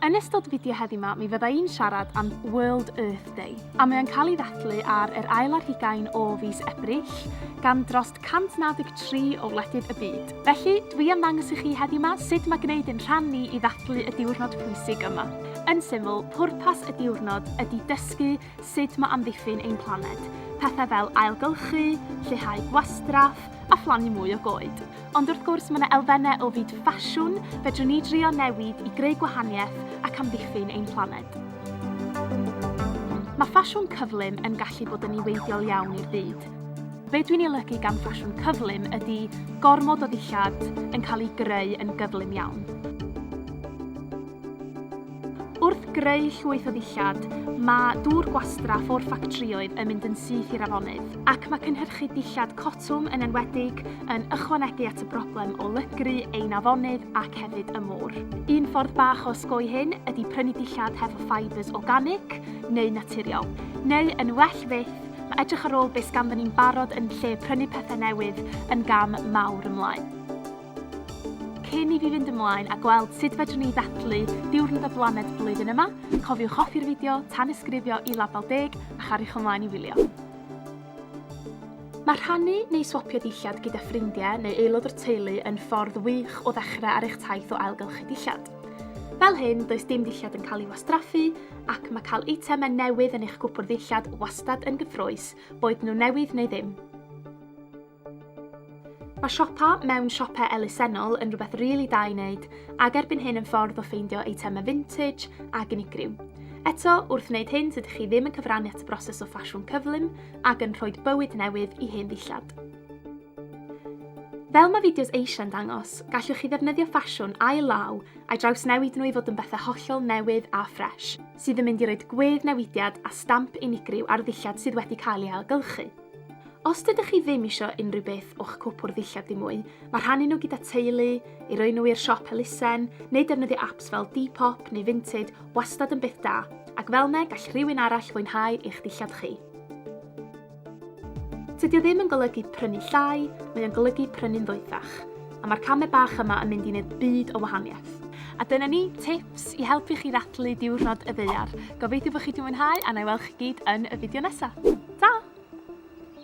Yn ystod fideo heddi 'ma mi fydda i'n siarad am World Earth Day a mae o'n cael ei ddathlu ar yr ail ar hugain o fis Ebrill gan dros 193 o wledydd y byd. Felly, dwi am ddangos i chi heddi 'ma sut mae gwneud yn rhan ni i ddathlu y diwrnod pwysig yma. Yn syml, pwrpas y diwrnod ydi dysgu sut mae amddiffyn ein planed, pethau fel ailgylchu, lleihau gwastraff a phlannu mwy o goed. Ond wrth gwrs, mae yna elfennau o fyd ffasiwn fedrwn ni drio newid i greu gwahaniaeth ac amddiffyn ein planed. Mae ffasiwn cyflym yn gallu bod yn niweidiol iawn i'r byd. Be dwi'n ei olygu gan ffasiwn cyflym ydy gormod o ddillad yn cael ei greu yn gyflym iawn. Wrth greu llwyth o ddillad, mae dŵr gwastraff o'r ffactrïoedd yn mynd yn syth i'r afonydd, ac mae cynhyrchu dillad cotwm yn enwedig yn ychwanegu at y broblem o lygru ein afonydd ac hefyd y môr. Un ffordd bach o osgoi hyn ydy prynu dillad hefo fibres organig neu naturiol. Neu, yn well fyth, mae edrych ar ôl beth ganddon ni'n barod yn lle prynu pethau newydd yn gam mawr ymlaen. Cyn i fi fynd ymlaen a gweld sut fedrwn ni ddathlu Diwrnod y Blaned blwyddyn yma, cofiwch hoffi'r fideo, tanysgrifio i Label Deg a chariwch ymlaen i wylio. Mae rhannu neu swapio dillad gyda ffrindiau neu aelod o'r teulu yn ffordd wych o ddechrau ar eich taith o ailgylchu dillad. Fel hyn, does dim dillad yn cael ei wastraffu ac mae cael eitemau newydd yn eich gwpwrdd ddillad wastad yn gyffrous, boed nhw'n newydd neu ddim. Mae siopa mewn siopau elusennol yn rhywbeth rili da i wneud ac erbyn hyn yn ffordd o ffeindio eitemau vintage ac unigryw. Eto, wrth wneud hyn tydych chi ddim yn cyfrannu at y broses o ffasiwn cyflym ac yn rhoi bywyd newydd i hen ddillad. Fel mae fideos eisiau'n dangos, gallwch chi ddefnyddio ffasiwn ail-law a'i drawsnewid nhw i fod yn bethau hollol newydd a ffres, sydd yn mynd i roi gwedd newidiad a stamp unigryw ar ddillad sydd wedi cael ei ailgylchu. Os dydych chi ddim isio unrhyw beth o'ch cwpwrdd ddillad ddim mwy, mae rhannu nhw gyda teulu, i roi nhw i'r siop elusen, neu defnyddio apps fel Depop neu Vinted wastad yn beth da, ac fel ne gall rhywun arall fwynhau eich dillad chi. Tydi o ddim yn golygu prynu llai, mae o'n golygu prynu'n ddoethach. A mae'r camau bach yma yn mynd i wneud byd o wahaniaeth. A dyna ni, tips i helpu chi ddathlu diwrnod y ddaear. Gobeithio bod chi wedi mwynhau a na i weld chi gyd yn y fideo nesaf. Ta!